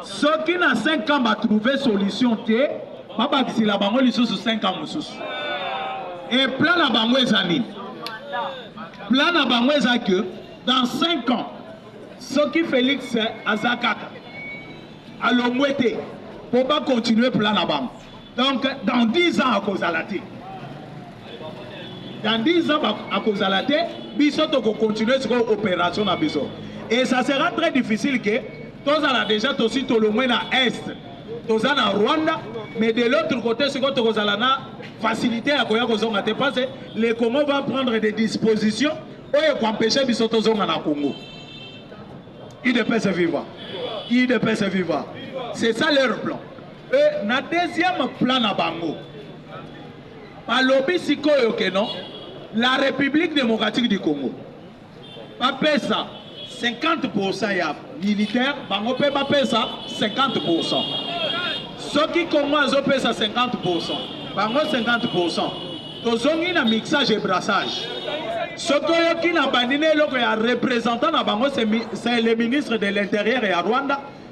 soki na 5 ans ba trouver solution te babakisela bango lisusu 5 ans mosusu e plan na bango eza nini plan na bango eza que dans 5 ans soki félix aza kaka alongwe te mpo bakontinue plan na bango Donc dans 10 ans akozala te. Dans 10 ans akozala te, biso toko continuer siko opération na biso. Et ça sera très difficile que tozala déjà tosi tolongwe na est. Toza na Rwanda, mais de l'autre côté siko tokozala na facilité ya koya kozonga te parce que le Congo va prendre des dispositions oyo ekoempeshe biso tozonga na Congo. UDPS viva. UDPS viva. C'est ça leur plan. Mpe na deuxième plan na bango balobi sikoyo ke non la République démocratique du Congo bapesa 50% ya militaire bango mpe bapesa 50% soki Congo azopesa 50% bango 50% tozongi na mixage et brassage soki oyoki na bandi na eloko ya représentant na bango c'est le ministre de l'intérieur ya Rwanda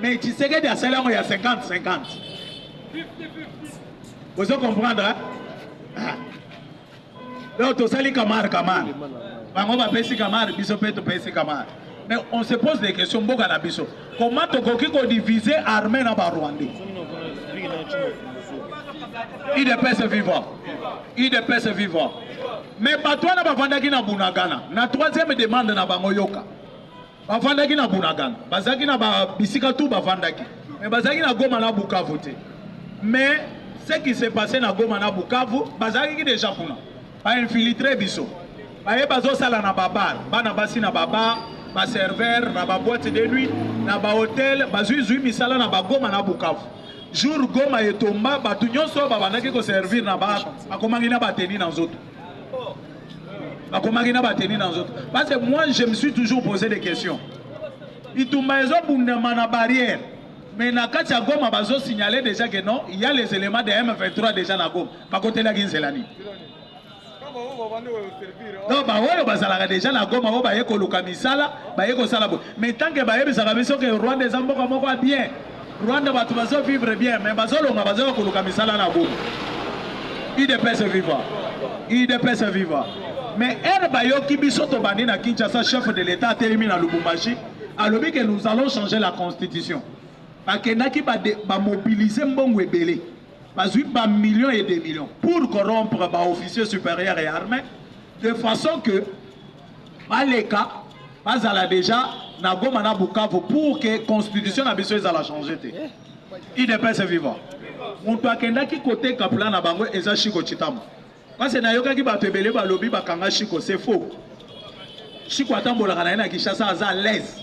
Mais Tshisekedi asali yango ya 50-50. Vous comprenez hein? ah. Donc tosali kamar kamar. Bango bapesi kamar, biso mpe topesi kamar. Mais on se pose des questions mboka na biso. Comment tokoki ko diviser armée na ba Rwandais? UDPS vivant. UDPS vivant. Mais bato wana bavandaki na Bunagana. Na troisième demande na bango yoka. bavandaki na bunagana bazalaki na bisika tu bavandaki mais bazalaki na goma na bukavu te mais ce qui se passe na goma na bukavu bazalaki deja kuna bainfiltre biso baye bazosala na babar bana basi na babar baserveur na baboite de nuit na bahotel bazuizui misala na bagoma na bukavu jour goma etomba bato nyonso babandaki koservir na bar bakomaki na bateni na nzoto bakomaki na bateni na nzoto parce que moi je me suis toujours posé des questions bitumba ezobundama na barrière mais na kati ya goma bazosignale déjà que non il y a les éléments de m23 déjà na goma bakotelaki nzela nini donc baoyo bazalaka déjà na goma oyo baye koluka misala baye kosala boye mais tanke bayebisaka biso ke rwanda eza mboka moko ya bien Rwanda batu bazo vivre bien mais bazo longa bazo koluka misala na Goma. UDPS viva. UDPS viva. Mais ere bayoki biso tobandi na Kinshasa chef de l'État atelemi na Lubumbashi alobi que nous allons changer la constitution. Bakendaki ba, ba mobiliser mbongo ebele. Bazui ba millions et des millions pour corrompre ba officiers supérieurs et armés de façon que Baleka bazala deja na Goma na Bukavu pour que constitution na biso ezala changer te. IDPS viva. Moto akendaki koteka plan na bango eza Shiko Chitamu. Parce que nayokaki bato ebele balobi bakanga Shiko, c'est faux. Shiko atambolaka na ye na Kinshasa aza à l'aise.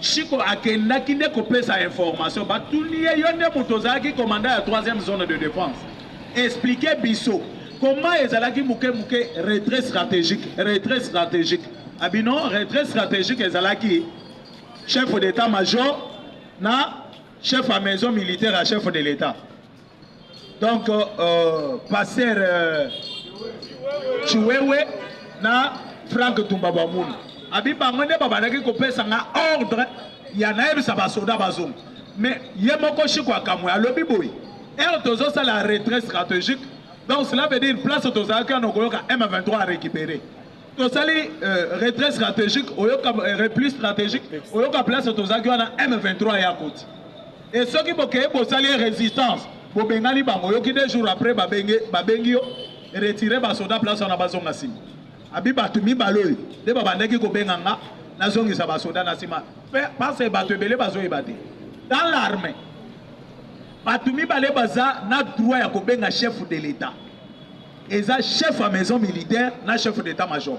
Chico akendaki nde kopesa information batuni ye yo nde moto ozalaki commandant ya troisième zone de defense explique biso comment ezalaki moke moke retrait stratégique retrait stratégique abi non retrait stratégique ezalaki chef d'état major na chef ya maison militaire ya chef de l'état Donc, euh, pasteur euh, Chiwewe na Frank Tumbabamunu. Abi bango nde babandaki kopesa nga ordre ya nayebisa basoda bazonga. Mais ye moko Shiko akamwe alobi boye. Heure tozosala retrait stratégique. Donc cela veut dire place tozalaki wana okoyoka M23 a récupérer. tosali euh, retrait stratégique oyoka euh, repli stratégique oyoka place tozalaki wana m23 ya koti e soki bokei bosali résistance bobengani bango oyoki deux jours après babengi yo retire basoda place wana bazonga nsima abi bato mibale oyo nde babandaki kobenga nga nazongisa basoda na nsima parce bato ebele bazoyeba te dans l'armée bato mibale baza na droit ya kobenga chef de l'état eza chef ya maison militaire na chef d'état major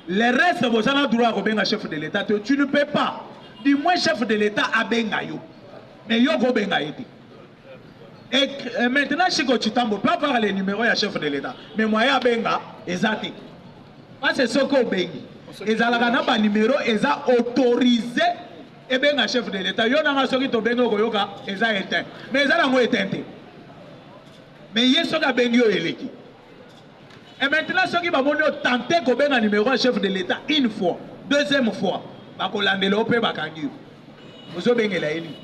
le reste boza na droit ya kobenga chef de l'état te tu ne peux pas du moins chef de l'état abenga yo mais yo kobenga ye te et euh, maintenant chiko chitambo peut avoir le numéro ya chef de l'état mais moyen abenga eza te parce soki obengi ezalaka na banimero eza autorise Ebenga chef de l'etat yo na nga soki tobengi okoyoka eza eteint mais eza nango eteint te mais ye soki abengi yo eleki et maintenant soki bamoni otente kobenga numéro ya chef de l'état une fois deuxième fois bakolandela yo mpe bakangi yo ozobengela ye nini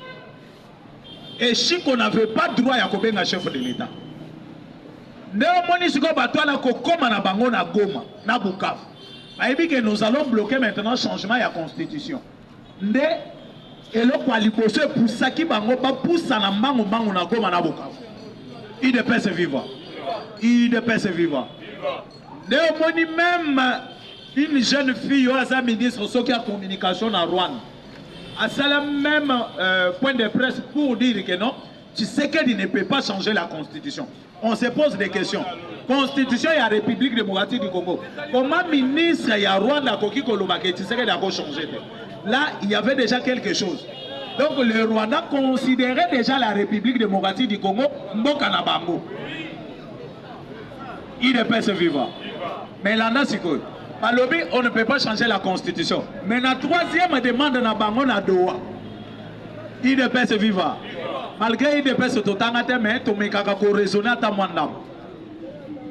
et chiko n'avait pas droit ya kobenga chef de l'état nde omoni sikoyo bato wana kokoma na bango na goma na bukavu bayebi ke nous allons bloquer maintenant changement ya constitution nde eloko ya liboso epusaki bango bapusana mbangu mbangu na Goma na Bukavu. UDPS viva, UDPS viva. Nde omoni meme une jeune fille oyo aza ministre soki ya communication na Rwanda asala meme euh, point de presse pour dire que non Tshisekedi ne peut pas changer la constitution. On se pose des questions. Constitution ya République démocratique du Congo. Comment ministre ya Rwanda akoki koloba que Tshisekedi ako changer te? Là, il y avait déjà quelque chose. Donc le Rwanda considérait déjà la République démocratique du Congo mboka na bango. Il ne peut se vivre. Mais là, là, c'est quoi? Balobi, on ne peut pas changer la constitution. Mais la troisième demande na bango na Doha. Udps viva! Malgre Udps totanga te mais tomekaka ko raisonner ata mwa ndambo.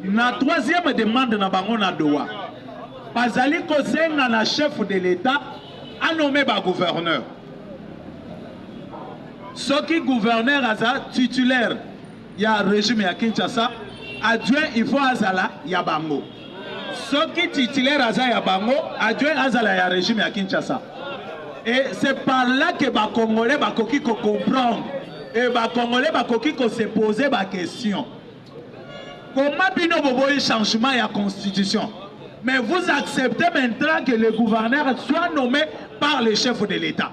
Na troisième demande na bango na Doha, bazali kosenga na chef de l'État anome ba gouverneur. Soki gouverneur aza titulaire ya regime ya Kinshasa adjoint il faut azala ya bango soki titulaire aza ya bango adjoint azala ya regime ya Kinshasa et c'est par là que ba congolais bakoki ko comprendre et ba congolais bakoki ko se poser ba question comment bino boboyi changement ya constitution mais vous acceptez maintenant que le gouverneur soit nommé par le chef de l'État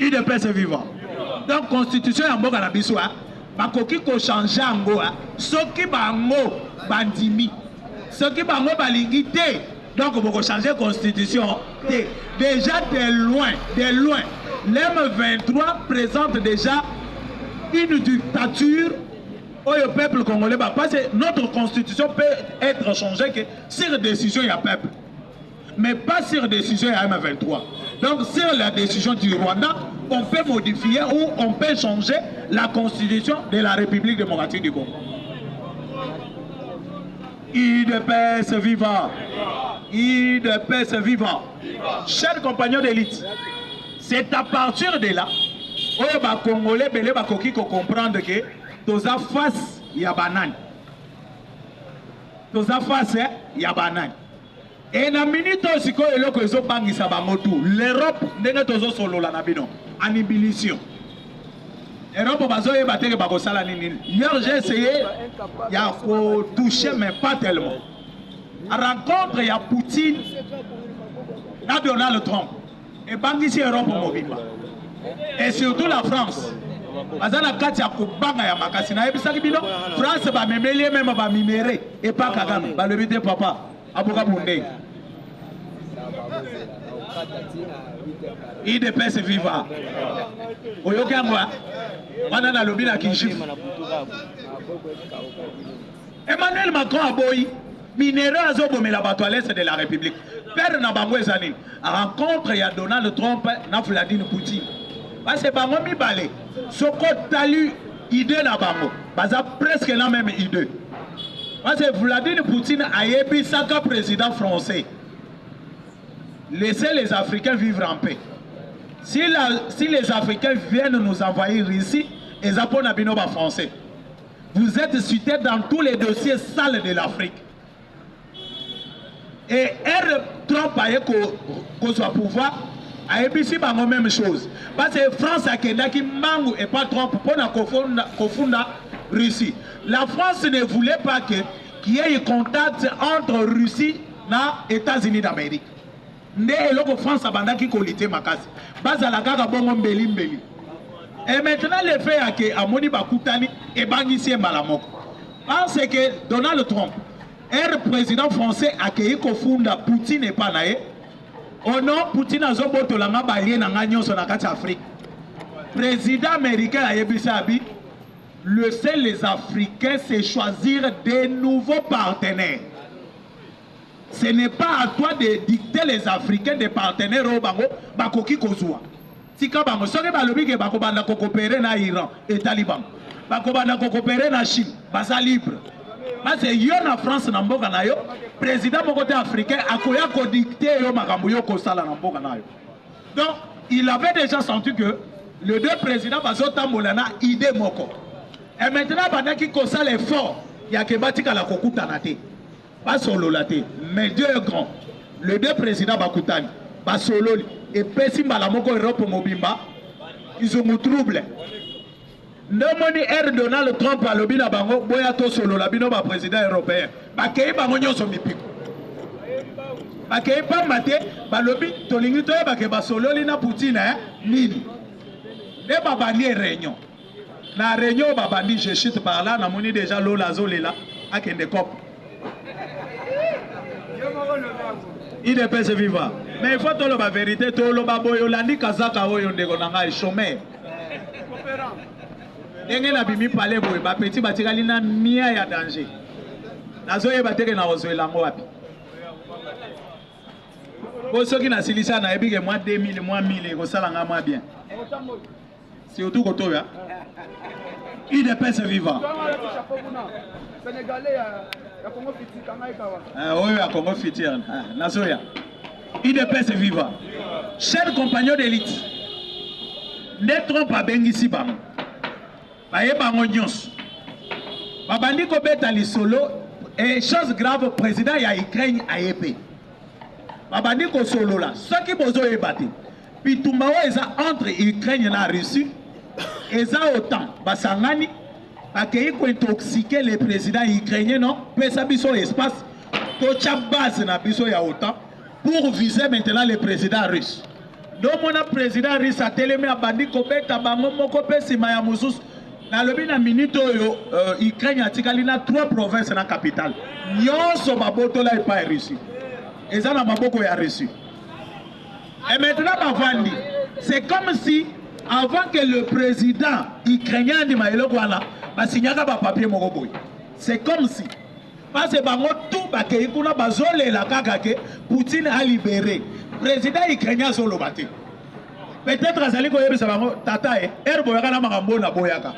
Udps viva. Donc constitution ya mboka na biso hein? bakoki kochange yango soki bango bandimi soki bango balingi te donc bokochange constitution te déjà de loin de loin lm 23 présente déjà une dictature oyo peuple congolais bapase notre constitution peut être changée que sur décision ya peuple mais pas sur décision ya M23. Donc sur la décision du Rwanda, on peut modifier ou on peut changer la constitution de la République démocratique du Congo. IDPS viva IDPS viva Chers compagnons d'élite, c'est à partir de là oyo bakongole ebele bakoki kocomprendre ke toza face ya banani toza face eh, ya banani Et na minute oyo sikoyo eloko ezobangisa bango tout l'Europe ndenge tozosolola na bino en ébullition Europe bazoyeba te ke bakosala nini hier j'ai essayé ya kotouche mais pas tellement rencontre ya Poutine na Donald Trump ebangisi europe mobimba et surtout la france aza na kati ya kobanga ya makasi nayebisaki bino france bamemeli ye meme baminere epa kagame balobi te papa abuka bundenge idps viva oyoki yango wana nalobi na kinshif Emmanuel Macron aboyi minerais azobomela bato à l'est de la République. Père na bango eza nini? Rencontre ya Donald Trump na Vladimir Poutine. Parce que bango mibale soko tali idée na bango baza presque la même idée. Parce que Vladimir Poutine ayebisaka président français laissez les Africains vivre en paix. Si, la, si les Africains viennent nous envahir ici, eza mpo na bino ba français. Vous etes cite dans tous les dossiers sales de l'Afrique. Et R. Trump aye kozwa pouvoir ayebisi bango même chose parce que France akendaki mbangu epa Trump mpo na kofunda Russie. La France ne voulait pas que qu'il y ait contact entre Russie na États-Unis d'Amérique. Nde eloko France abandaki ko lutter makasi. Bazala kaka bongo mbeli mbeli. Et maintenant le fait ya ke amoni bakutani ebangisi ye mbala moko. Parce que Donald Trump er president français akeyi kofunda Poutine epa na ye o non Poutine azobotola nga balie na nga nyonso na kati ya Afrique. President américain ayebisi abi laissez les Africains se choisir des nouveaux partenaires. Ce n'est pas à toi de dicter les africains des partenaires oyo bango bakoki kozwa. Tika bango soki balobi ke bakobanda kokopere na Iran etali bango, bakobanda kokopere na Chine baza libre. Base yo na France na mboka na yo, president moko te africain akoya kodicter yo makambo yo kosala na mboka na yo. Donc il avait déjà senti que les deux présidents bazotambola na idée moko. Et maintenant abandaki kosala effort ya ke batikala kokutana te. basolola te mais Dieu est grand le deux président bakutani basololi epesi mbala moko Europe mobimba izungu trouble nde omoni r donald trump alobi na bango boya tosolola bino baprésident européen bakei bango nyonso mipiko bakei mpamba te balobi tolingi toyebake basololi na poutine eh? nini nde babandi réunion na reunion babandi je chute par là namoni deja lola azolela akende cop idps viva mais il faut toloba verité toloba boye olandi kazaka oyo ndeko na ngai chomeur ndenge nabimi pale boye bapeti batikali na mia ya danger nazoyeba teke nakozwela yango wapi po soki nasilisa nayebi ke mwa 2000 mwa 1000 ekosala ngai mwa bien surtout kotoya udps viva ah, oyo ya congo futur ah, nazoya udps viva cher compagnon d'élite nde trump abengisi bango baye bango nyonso babandi kobeta lisolo e chose grave président ya ukraine aye mpe babandi kosolola soki bozoyeba te Bitumba oyo eza entre Ukraine na Russie eza otan basangani bakei kointoxique le président ukrainien non pesa biso espace totya base na biso ya otan pour viser maintenant le président russe ndomona président russe atelemi abandi kobeta bango moko mpe nsima ya mosusu nalobi na minute oyo uh, ukraine atikali na trois province na capitale nyonso babotola epai russie eza na maboko ya russie Et maintenant bavandi, c'est comme si avant que le président ukrainien andima eloko wana basignaka bapapier moko boye c'est comme si parce bango tout bakei kuna bazolela kaka ke poutine alibere président ukrainien azoloba te peut-être azali koyebisa bango tata e ere boyaka na makambo oyo naboyaka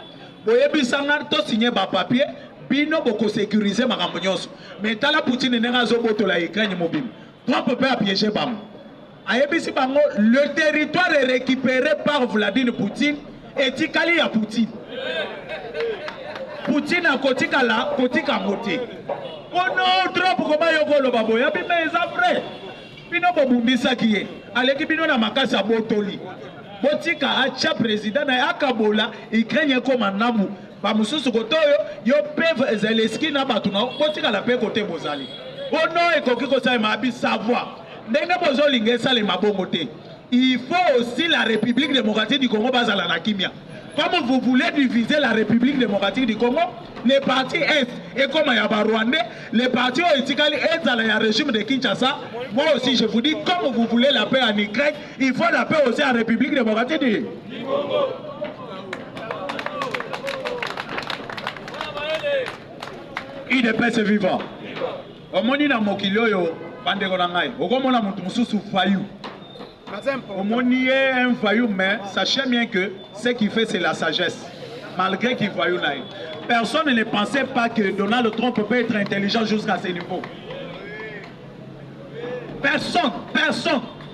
boyebisa nga tosigne bapapier bino bokosécurise makambo nyonso mais tala poutine ndenge azobotola ukraine mobimba Trump pe a piege bango ayebisi bango le territoire recupere par Vladimir Poutine etikali ya Poutine Poutine akotikala kotika yango te kono Trump koma yo koloba boye abima eza vrai bino bobundisaki ye aleki bino na makasi abotoli botika acha president na ye akabola Ukraine ekoma namu ba mususu kote oyo yo pev ezali eski na bato na botikala pe kote bozali ono ekoki kosalema abi savoir ndenge bozolinga esalema bongo te il faut aussi la république démocratique du congo bazala na kimia comme vous voulez diviser la république démocratique du congo le parti est ekoma ya barwandais le parti oyo etikali ezala ya régime de kinshasa moi aussi je vous dis comme vous voulez la paix en ukraine Il faut la paix aussi en République démocratique du Congo. udps viva omoni na mokili oyo bandeko na ngai okomona moto mosusu fayu omoni ye un fayu mais sachez bien que ce qui fait c'est la sagesse malgré qu'il fayu na ye personne ne pensait pas que donald trump peut être intelligent jusqu'à ce niveau personne personne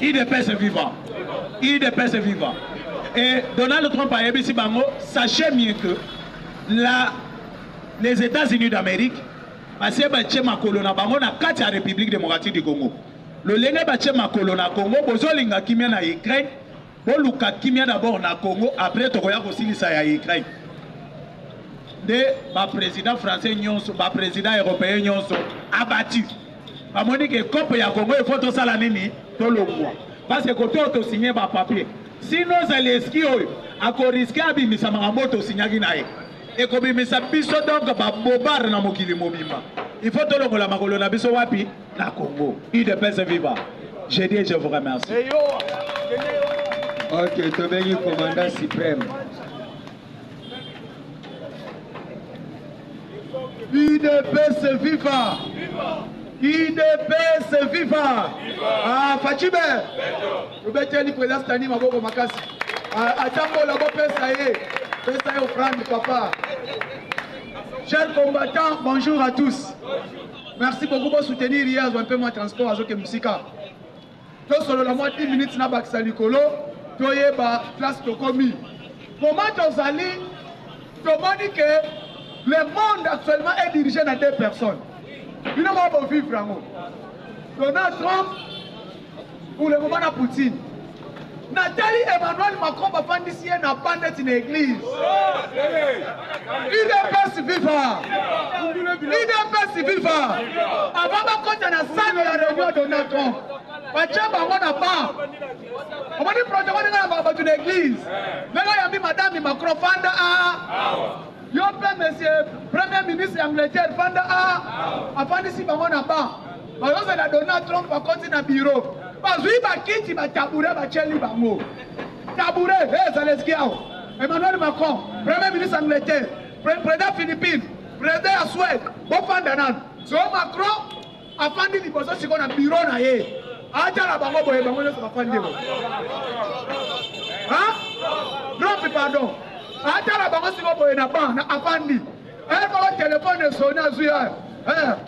Udps viva! Udps viva! Et Donald Trump a yebisi bango, sachez mieux que la, les États-Unis d'Amérique basi batye makolo na bango na kati ya République démocratique du Congo. Lolenge batye makolo na Congo, bozolinga kimia na Ukraine, Boluka kimia d'abord na Congo après tokoya kosilisa ya Ukraine. Nde ba president français nyonso, ba president européen nyonso abattu. Bamoni ke cope ya Congo il faut tosala nini? Tolongwa. Parce que kote oyo tosigne ba papier. Sinon Zelensky oyo akoriske abimisa makambo oyo tosignaki na ye. Ekobimisa biso donc ba bobard na mokili mobimba. Il faut tolongola makolo na biso wapi? na Congo. UDPS viva. Je dis je vous remercie. Hey yo. Ok, tobengi commandant suprême. UDPS viva. UDPS viva. Ah, Fatshime. Obeteli président Stani maboko makasi. Ah, atambola bopesa ye. Pesa ye offrande papa. Chers combattants, bonjour à tous. Bonjour. Merci beaucoup bo soutenir ye azwa mpe mwa transport azoke mosika tosolola mwa 10 minutes na bakisa likolo toyeba place tokomi moment tozali tomoni ke le monde actuellement est dirigé na deux personnes bino moko bovivre yango donald trump Pour le moment na Poutine. Natali Emmanuel Macron bafandisi ye na ba neti na église. UDPS viva! UDPS viva! Avant bakota na salle ya réunion Donald Trump. Batya bango na ba. Omoni protocole ndenge na bato na église. Ndenge oyambi madame Macron fanda a. Yo mpe monsieur premier ministre ya Angleterre fanda a. Afandisi bango na ba. bazozela donald trump akoti na biro bazwi bakiti batabure batyeli bango tabure e ezala eziki awa emmanuel macron premier ministre angleterre président philippine président ya swede bofanda nano so macron afandi liboso sikoyo na biro na ye atala bango boye bango nyonso bafandi bo dropi pardon atala bango sikoyo boye na ban na afandi ekolo telefone esoni azwi ayo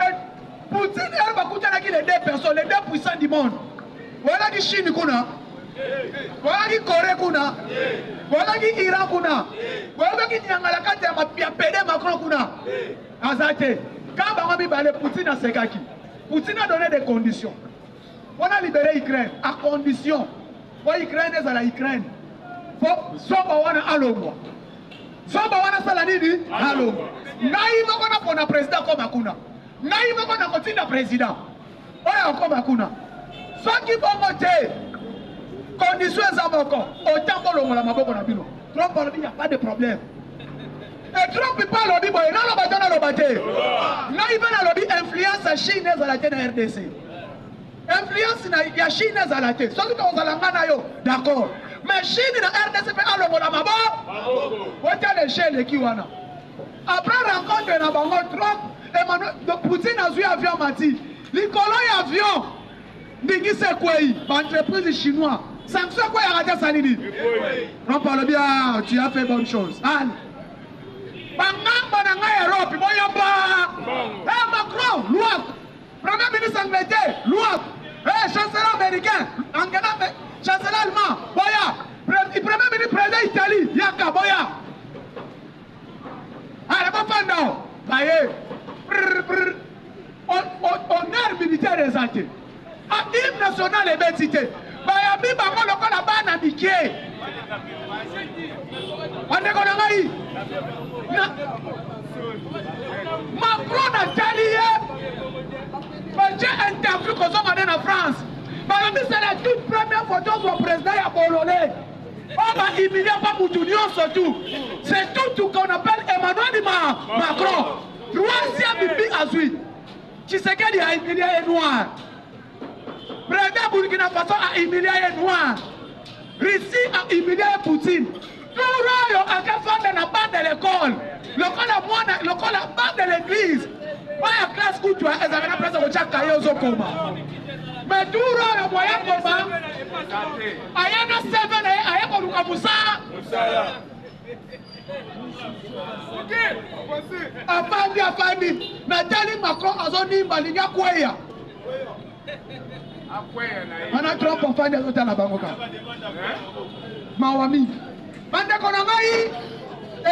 Et Poutine et bakutanaki les deux personnes, les deux puissants du monde. Voilà qui Chine kuna. Voilà qui Corée kuna. Voilà qui Iran kuna. Voilà qui Nyangala kati ya mapia pede Macron kuna. Azate. Quand bango mibale Poutine asekaki. Poutine a donné des conditions. Mpo na libere Ukraine a condition mpo Ukraine ezala Ukraine, mpo zoba wana alongwa. Zoba wana sala nini? Alongwa. Ngai moko napona president akoma kuna, ngai moko nakotinda president oyo akoma kuna. Soki bongo te, condition eza moko, otango longola maboko na bino. Trop parmi, il n'y a pas de problème. Et Trump pe alobi boye, naloba to naloba te, ngai pe nalobi influence ya Chine ezala te na RDC. Influence na ya Chine ezala te, soki tokozala nga na yo d'accord, mais Chine na RDC pe alongola mabo weta le jeu eleki wana. Après rencontre na bango Trump, Emmanuel Poutine azwi avion mati likolo ya avion Ndingisa ekwei ba entreprise chinois sanction ekwei akati asali nini trump alobi ah tu as fait bonne chose ale bangamba na ngai europe boyamba e eh, macron luak premier ministre angleterre luak e eh, chancelier américain angela chancelier allemand boya premier ministre président italie yaka boya Allez, va fanda o. Baye. Brr, brr. Honneur militaire eza te. A ah, hymne national ebeti te. Bayambi bango lokola bana mike. Bandeko na ngai. Na Macron natali ye. Batie interview kozonga nde na France. Balobi c'est la toute première photo zwa président ya Bolole. Ba ba humilier ba mutu nionso tu. C'est tout tout qu'on appelle Emmanuel ma Macron. Troisième bi azui. Tshisekedi a humilié les noirs. Président Burkina Faso a humilié les noirs. Russie a humilié Poutine. Toro oyo akafanda na bande de l'école. Lokola mwana lokola bande de l'église. Baya classe kutu ezalaka na place ya kotia kaye ozokoma. Mais toro oyo moya koma Aya na CV na ye aye koluka musala. Musala. Afandi afandi natali Macron azonimba alingi akweya. wana trump afandi azotala bango kaka mawa mingi bandeko na ngai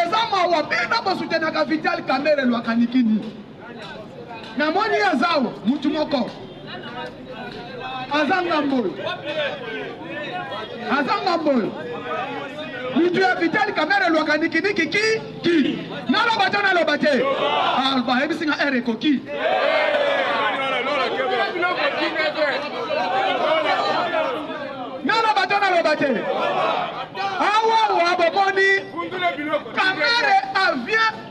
eza mawa bino bosutenaka vital kamere lwakanikini Na moni azao mutu moko aza ngambo oyo aza ngambo oyo mutu ya vitali kamere elwaka nikiniki ki ki naloba to naloba te ah, bayebisi nga ere ekoki naloba to naloba te awawa bomoni kamere avient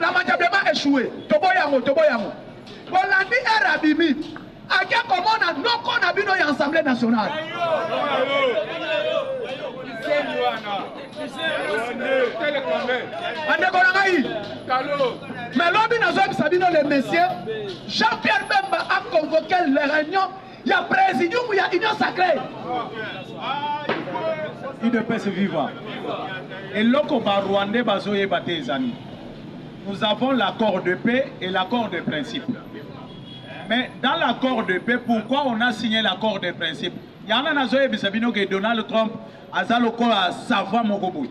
na majabema echoue toboyi yango toboyi yango bolandi ere abimi ake komona noko na bino ya assemblée nationale bandeko na ngai me lobi nazoyebisa bino le monsieur jean pierre bemba a convoqué le réunion ya presidium ya union sacree udps viva eloko barwandais bazoyeba te ezali nous avons l'accord de paix et l'accord de principe mais dans l'accord de paix pourquoi on a signé l'accord de principe yana nazoyebisa bino ke donald trump aza lokola savoir moko boye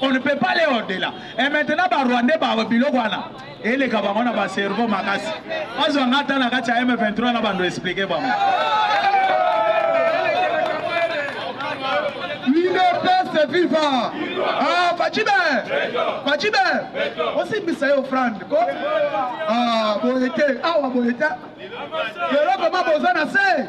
On ne peut pas les au-delà. Et maintenant, ba Rwandais, ba biloko wana. Eleka bango na ba cerveau makasi. Bazwa ngata na kati ya M23 na bando expliquer bango. Liberté viva. Ah, Fachibe. Fachibe. Aussi bisa yo Frank. Ko? Ah, boyete. Ah, wa boyete. Lelo koma boza na se.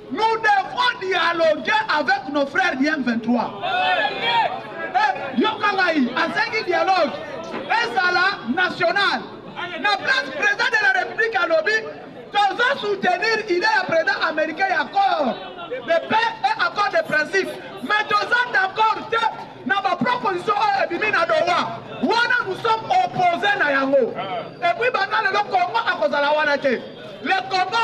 Nous devons dialoguer avec nos frères du M23. Eh, yoka ngai, asengi dialogue ezala national. Na place président de la République alobi tozo soutenir idée ya président américain ya accord de paix et accord de principe. Mais toza d'accord te na ba proposition oyo ebimi na Doha. Wana nous sommes opposés na yango. Et puis banda lelo Congo akozala wana te. Le Congo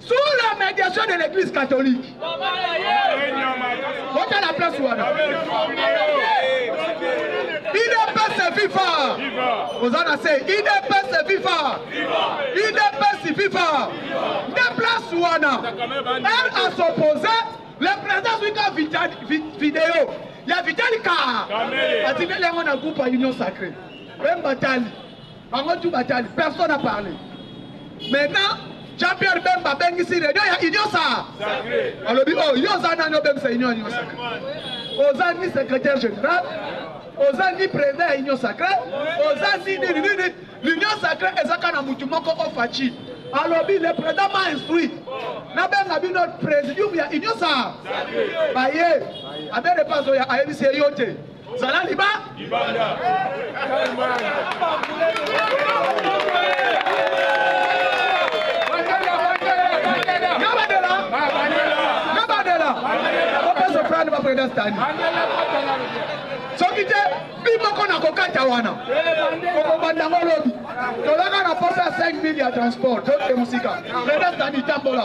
sous la médiation de l'église catholique bota la place wana idps viva oza na se idps viva idps viva nde place wana elle a s'oppose le président azwi ka video ya vitali ka atindeli yango na groupe ya union sacré mpe mbatali Bango tout batali, personne a parlé. Maintenant, Jean-Pierre Bemba abengisi reunion ya Union sa. Alobi oh, yo oza nani obengisa Union ya Union Sacrée? Oza ni secrétaire général, oza ni président ya Union Sacrée, oza ni nini nini. L'Union Sacrée ezaka na mutu moko ofachi. alobi le président m'a instruit nabenga bino présidium ya union sa baye aberepazo ya ayebisi ye yo te zala liba libanda president stani soki te bi moko na kokata wana okobanda yango lobi tolaka na posa ya 5 mille ya transport toke mosika president stani tambola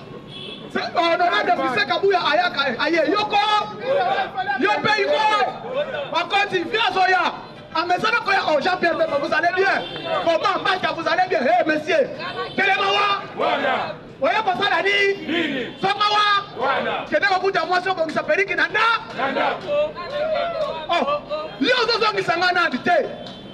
honorable fise kabuya ayaka aye yoko yo mpe iko bakonzi vi azoya amesana koya o jean pierre bemba vous allez bien comment mbata vous allez bien he monsieur telema wa oye kosala ni songa wa kende kokuta mwasi obongisa periki na nda yo ozozongisa ngai nandi te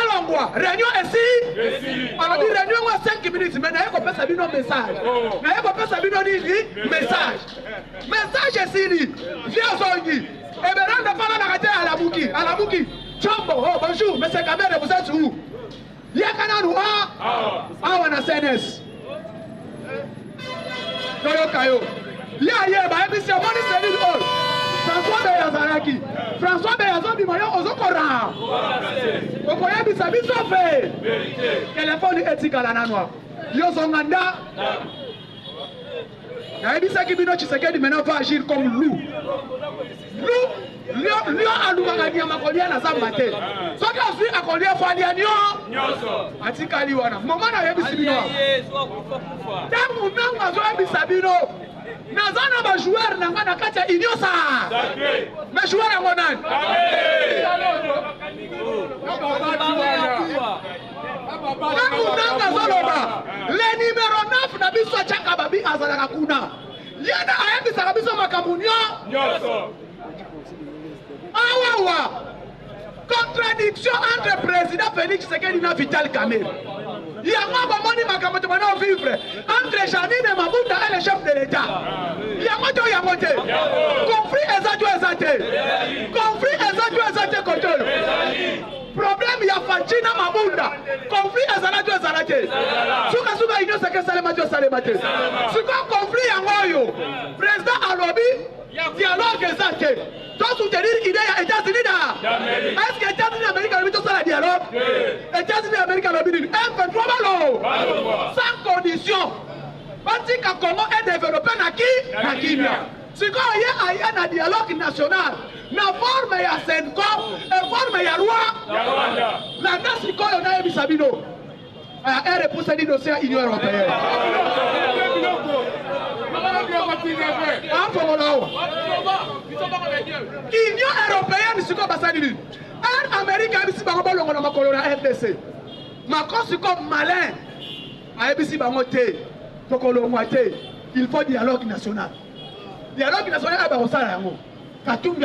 alongwa reunion esili alobi reunion yango ya 5 minutes me naye kopesa bino message oh. naye kopesa bino nini message message esili vie azongi eberanda fana na kate alamuki alamuki chombo oh bonjour monsieur kamere vous êtes où Yaka nanu a ah, awa na CNS. Toyoka yo. Ye ayeba ebisi amoni selil oyo. François Bey azalaki. François Bey azobima yo ozokora. Okoyebisa biso mpe. Telefoni etikala nanu. Yo zonga nda. nayebisaki bino tshisekedi mena va agir comme loup loup lio alukaka nyama kolia na zamba te soki azwi akolia fo alia nio atikali wana moma nayebisi bino ntango ntango azoyebisa bino naza na bajoueur na ngai na kati ya union sa me joueur yango nani Tango nanga azoloba le numero 9 na biso ajaka babi azalaka kuna ye nde ayebisaka biso makambo nyonso awawa contradiction entre président félix tshisekedi na vital kamere yango bomoni makambo tobanda ovivre entre janine mabuta et le chef de l'état yango to yango te conflit eza to eza te conflit eza to eza te kote oyo Problème ya Fatshi na Mabunda, conflit ezalaki ezala te. Suka suka union sacrée salema te salema te. Siko conflit yango oyo président alobi dialogue eza te. To soutenir idée ya États-Unis da. Est-ce que États-Unis d'Amérique alobi to sala dialogue? États-Unis d'Amérique alobi nini? M23 balo. Sans condition. Batika Congo est développé na ki na kimia. Sikoyo ye aye na dialogue national na forme ya senko e forme ya roi landa sikoyo nayebisa bino ere epusani dossier ya union européenne afongola awa union européenne sikoyo basali nini ere amerika yebisi bango balongola makolo na rdc makosi ko malin Ayebisi bango te tokolongwa te il faut dialogue national dialogue national ya bakosala yango katumbi